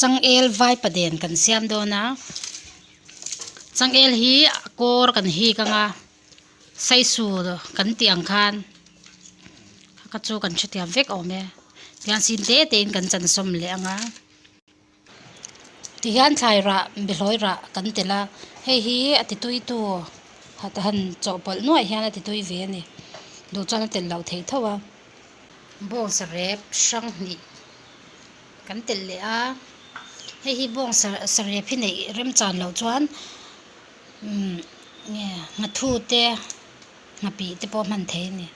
Changel vaipa den kan siam dawn a changel hi a kawr kan hik ang a sai sur kan tih ang khan ka chu kan ṭhutiam vek awm e tiang sin tete in kan chansawm leh ang a. Ti hian thlai rah, bihlawi rah kan tel a, hei hi a tituitu han chawhpawlh nuaih hian a titui ve a ni duh chuan a tel loh thei tho a, bawngsa rep hrang hnih kan telh leh a, hei hi bawngsa sarep hi neih remchan loh chuan nge nghathu te nghapi te pawh hman thei a ni.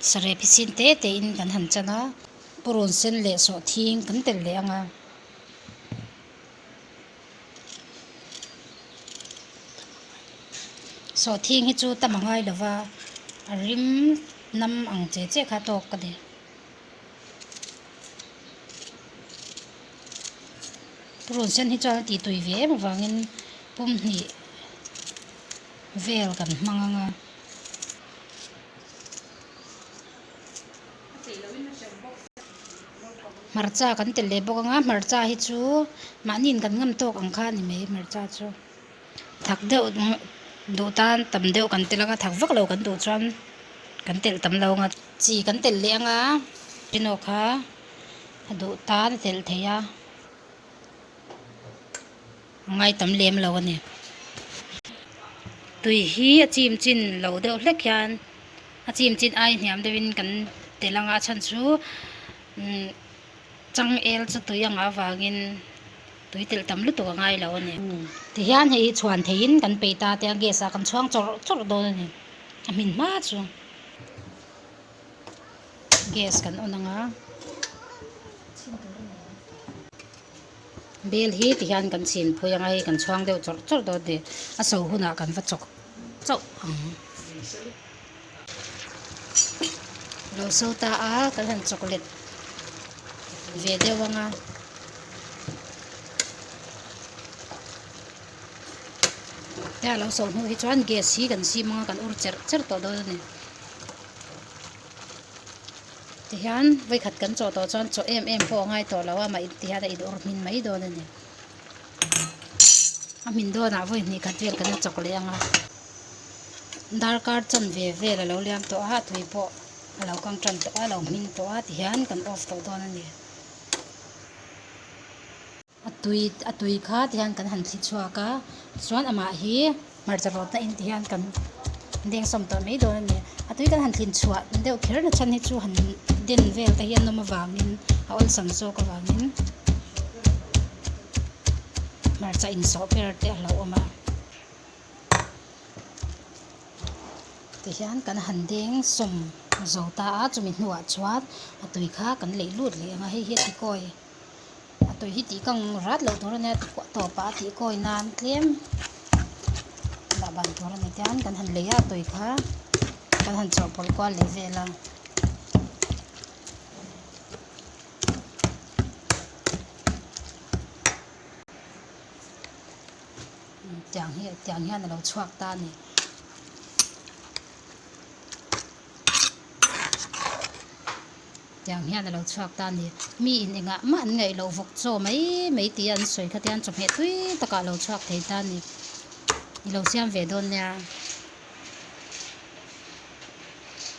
saree phichin te te in kan han chan a purun sen leh sawh thing kan tel leh ang a sawh thing hi chu tam a ngai lo va a rim hnam ang che che kha tawk a ni purun sen hi chuan a titui ve em avangin pumhnih vel kan hmang anga. hmarcha kan telh leh bawk anga hmarcha hi chu mahni in kan ngam tawk ang kha a ni mai hmarcha chu thak deuh duh tan tam deuh kan telh anga thak vaklo kan duh chuan kan telh tam lo anga chi kan telh leh anga pawh kha a duh tan a telh thei a. Ngai tam lem lo a ni. Tui hi a chim chin lo deuh hlek hian a chim chin ai hniam deuhin kan tel ang a, a chhan chu changel chu tui ang avangin tui telh tam lutuk a ngai lo a ni. Tihian hei hi chhuan theihin kan pei ta tia gas ah kan chhuang chawrh chawrh dawn a ni, a hmin hma chu. Gas kan on ang a. Bel hi ti hian kan chhin phui anga hei kan chhuang deuh chawrh chawrh dawn teh a so hunah kan va chawk chauh ang. Lo so ta a kan han chawk let ve deuh anga. Hei a lo so hnu hi chuan gas hi kan sim anga kan ur cherh cherh tawh dawn a ni. Tihian vaikhat kan chaw tawh chuan chaw em em pawh a ngai tawh lo a, mah tihian a in awrh hmin mai dawn a ni. A hmin dawnah vawi hnih khat vel kan la chawk leh ang a. Darkar chan ve vel a lo liam tawh a, a tui pawh a lo kang tan tawh a, a lo hming tawh a tihian kan off tawh dawn a ni. A tui a tui kha ti hian kan han thli chhuak a chuan amah hi hmarcha rawt na in ti hian kan deng sawm tawh mai dawn a ni a tui kan han thlin chhuah deuh kher na chhan hi chu han den vel te hi a nawm avang in a awn sam zawk avang in hmarcha in sawh ber te a lo awm a ti hian kan han deng sawm zo ta a chumi hnua chuan a tui kha kan leh lut leh ang a hei hi a ti kawi. atawih hi tih kang rat loh tur a nia tikuah tawp ah a tih kawi nan tlem dah ban tur a ni tian kan han lei a a tawi kha kan han chawhpawlh kual leh vel a. Tiang hi tiang hian a lo chhuak ta a ni. tiang hian a lo chhuak ta a ni mi in engah mah an ngaih loh vawk chaw mai mai tia an sawi kha tiang chawhmeh tui takah a lo chhuak thei ta a ni i lo siam ve dawn nia.